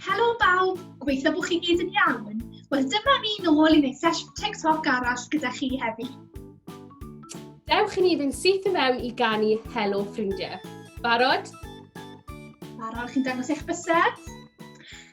Helo bawb, gobeithio bod chi gyd yn iawn. Wel, dyma ni nôl i wneud sesiwn TikTok arall gyda chi heddi. Dewch i ni fynd syth i mewn i ganu Helo Ffrindiau. Barod? Barod, chi'n dangos eich bysedd?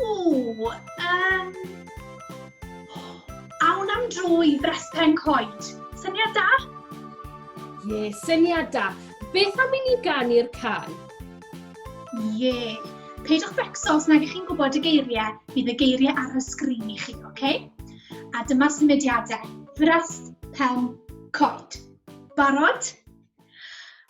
Ww, um, awn am dro i Frespen Coed. Syniad da? Ie, yeah, syniad da. Beth am i ni ganu'r can? Ie. Yeah. Peidiwch becso os nag ych chi'n gwybod y geiriau, bydd y geiriau ar y sgrin i chi, oce? Okay? A dyma symudiadau. Frespen Coed. Barod?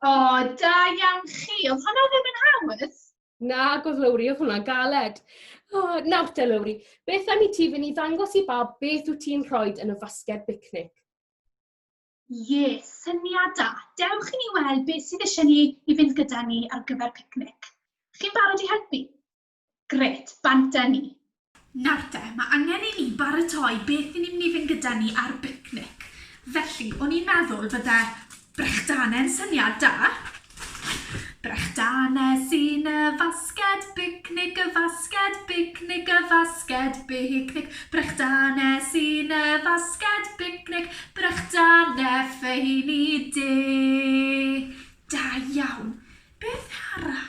O, oh, da iawn chi. Oedd hwnna ddim yn hawdd? Na, gwrdd Lowri, oedd hwnna'n galed. O, oh, nawr te, Lowri, beth am i ti fynd i ddangos i bawb beth wyt ti'n rhoi yn y fasged bicnic? Ie, yeah, syniad da. Dewch i ni weld beth sydd eisiau ni i fynd gyda ni ar gyfer picnic. Chi'n barod i helpu? Grêt, bant â ni! Nawr te, mae angen i ni baratoi beth i ni mynd i fynd gyda ni ar bicnic. Felly, o'n i'n meddwl bydde brechdanau yn syniad da. Brechdanau sy'n y fasged, bicnic y fasged, bicnic y fasged, bicnic. Brechdanau sy'n y fasged, bicnic, brechdanau ffeini du. Da iawn. Beth arall?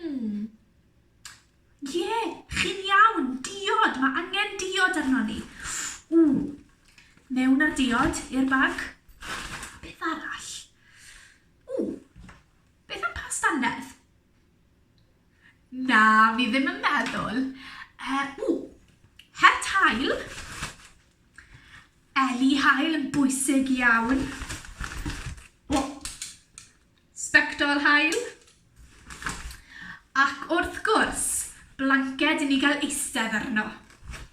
Hmm. Ie, chi'n iawn, diod, mae angen diod arno ni. Ww, mewn â'r diod i'r bag. Beth arall? Ww, beth am past annerth? Na, fi ddim yn meddwl. Uh, ww, het hael. Eli hael yn bwysig iawn. O, Sbectol haul. Ac wrth gwrs, blanced i ni gael eistedd arno.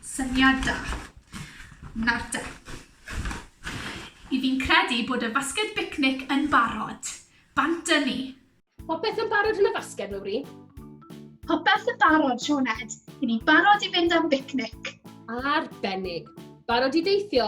Syniad da. Nawr te. Y fi'n credu bod y fasged bicnic yn barod. Bant â ni. Popeth yn barod yn y fasged, Mowri? Popeth yn barod, Sioned. Y'n ni barod i fynd am bicnic. Arbennig. Barod i deithio?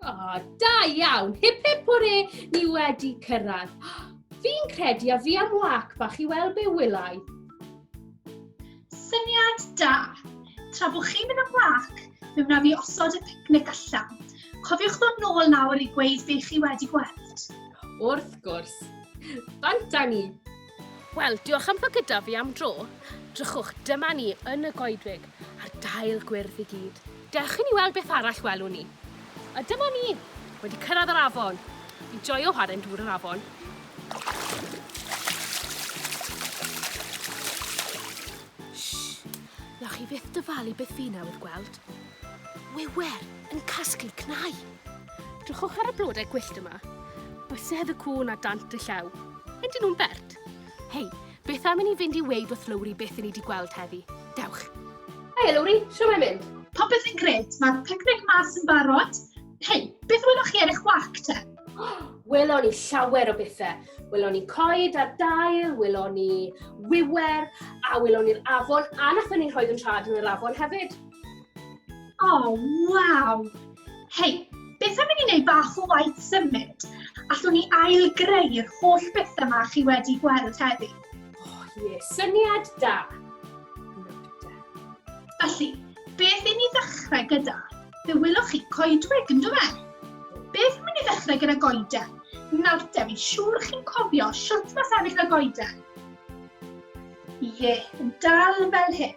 O, oh, da iawn! Hip hip hwre, ni wedi cyrraedd. Fi'n credu a fi am wac bach i weld be wylai. Syniad da! Tra bod chi'n mynd am wac, fe wna fi osod y picnic allan. Cofiwch ddod nôl nawr i gweud be chi wedi gweld. Wrth gwrs. Bant â ni. Wel, diolch am fod gyda fi am dro. Drychwch, dyma ni yn y goedwig, a'r dail gwyrdd i gyd. Dewch i ni weld beth arall welwn ni. A dyma ni, wedi cyrraedd yr afon. Fi'n joio chwarae'n dŵr yr afon. Shh! Nawch chi fyth dyfalu beth fi newydd gweld. Wiwer yn casglu cnau. Drychwch ar y blodau gwyllt yma. Bysedd y cŵn a dant y llew. Ydyn nhw'n bert? Hei, beth am i ni fynd i weid wrth Lowri beth i ni wedi gweld heddi? Dewch! Hei, Lowri, siw mae mynd? Popeth yn gret, mae'r picnic mas yn barod. Hei, beth weloch chi ar eich wac te? Welon ni llawer o bethau. Welon ni coed ar dail, welon ni wiwer, a welon ni'r afon, a nathon ni rhoi yn rhad yn yr afon hefyd. Oh, waw! Hei, beth am i ni wneud bach o waith symud? Allwn ni ailgreu'r holl beth yma chi wedi gweld heddi. Oh, ie, yeah. syniad da. Felly, beth i ni ddechrau gyda? Fe wylwch chi coedwig, yn dweud? E? Beth am i ni ddechrau gyda goeden? Nawr te, fi'n siŵr chi'n cofio siwt mae sefyll y goeden. Ie, yeah, yn dal fel hyn.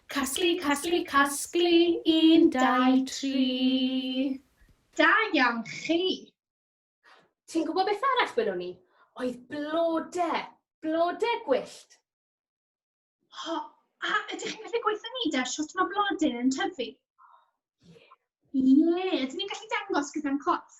Casglu, casglu, casglu, un, dau, tri. Da iawn chi! Ti'n gwybod beth arall welwn i? Oedd blode, blode gwyllt. O, a ydych chi'n gallu gweithio ni da sut mae blodyn yn tyfu? Ie, yeah. ydyn ni'n gallu dangos gyda'n corff?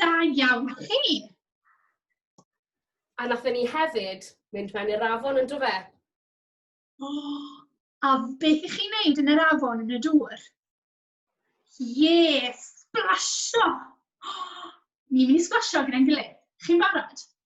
Da iawn chi! A nath ni hefyd mynd mewn i'r afon yn dweud. O, a beth i chi'n neud yn yr afon yn y dŵr? Ie, splasio! O, ni'n mynd i splasio gyda'n gilydd. Chi'n barod?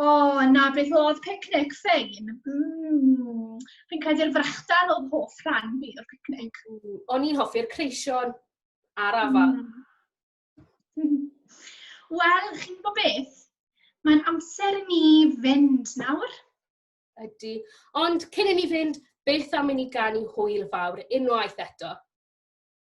O, na, beth oedd picnic Ffein? Mm, fi'n credu'r frechdan oedd hoff rhan fi o'r picnic. Mm, o'n i'n hoffi'r creision a'r afal. Mm. Wel, chi'n gwybod beth? Mae'n amser i ni fynd nawr. Ydy. Ond cyn i ni fynd, beth am i ni ganu hwyl fawr unwaith eto?